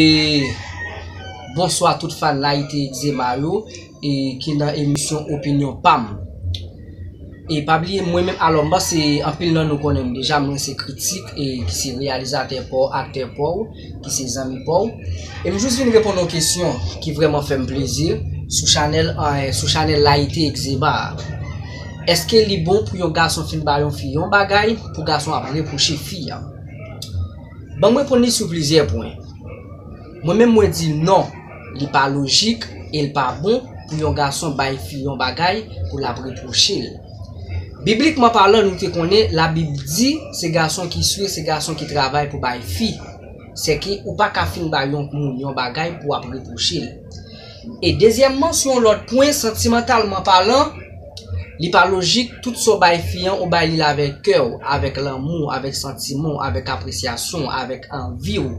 E bonswa tout fan layite egzema yo e ki nan emisyon opinyon pam e pa bliye mwen menm alò m panse anpil nan nou konnen m deja mwen se kritik e ki se reyalizatè pa w aktè pa w ki se zanmi pa w e m jis vin reponn yon kesyon ki vrèman fè m plezi sou chanèl sou chanèl layite egzema a èske li bon pou yon gason fin ba yon fi yon bagay pou gason ap repwoche fi a. Banm reponn li sou plizyè pwen. Mwen menm mwen di non li pa lojik e l pa bon pou yon gason bay fi yon bagay pou l ap repwoche l. Biblikman palan nou te konnen labib di se gason ki swe se gason ki travay pou bay fi. Sèke ou pa ka fin bay yon moun yon bagay pou ap repwoche l. E dezyèmman sou yon lòt pwen santimantalman palan, li pa lojik tout sa w bay fi an ou bay li l avèk kè w, avèk lanmou w, avèk santiman w, avèk apresyasyon w, avèk anvi w.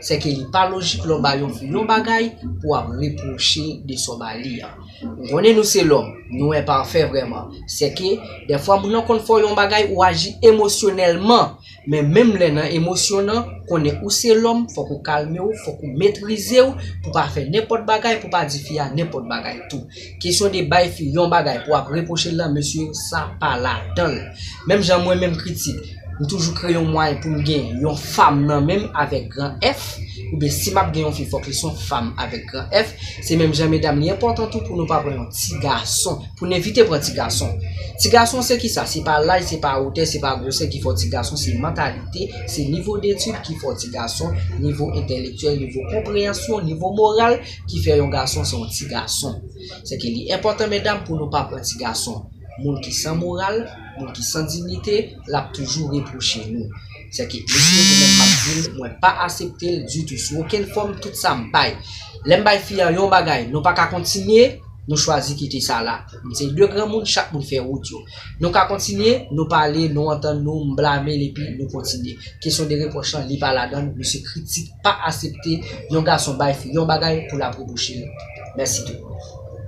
Sèke li pa lojik lè w bay yon fi yon bagay pou w ap repwoche de sa w ba li an. M konnen nou se lòm, nou enpafè vrèman. Sèke dèfwa moun nan konn fè w yon bagay ou aji emosyonèlman. Men menm lè nan emosyon nan, konnen ou se lòm, fòk ou kalme w, fòk ou metrize w, pou pa fè nenpòt bagay, pou pa di fi a nenpòt bagay tou. Kesyon de bay fi yon bagay pou ap repwoche l lan, mesye, sa pa ladan l. Menm jan mwen menm Critique, m toujou kreye yon mwayen pou m gen yon fam nan men m avèk gran F, oubyen si m ap gen yon fi fòk li son fam avèk gran F, se menm jan medam li enpòtan tou pou nou pa pran yon ti gason. Pou n evite pran ti gason. Ti gason se kisa? Se pa laj, se pa wotè, se pa gwosè ki fè w ti gason, se mantalite, se nivo detid ki fè w ti gason, nivo entèlektyèl, nivo konpreyansyon, nivo moral ki fè yon gason se yon ti gason. Sèke li enpòtan medam pou nou pa pran ti gason. Moun ki san moral, moun ki san dignite, l ap toujou repwoche nou. Sèke mesye mwen menm m ap di l mwen pa asepte l ditou sou okenn fòm tout sa m bay. Lè m bay fi an yon bagay nou pa ka kontinye, Nou chwazi kite sa la. Nou se de granmoun, chak moun fè wout yo. Nou ka kontinye, nou pale, nou antann nou, m blame l epi nou kontinye. Kesyon de repwòch lan, li pa ladan l, misye kritik, pa asepte yon gason bay fi yon bagay pou l ap repwoche l. Mèsi tout moun.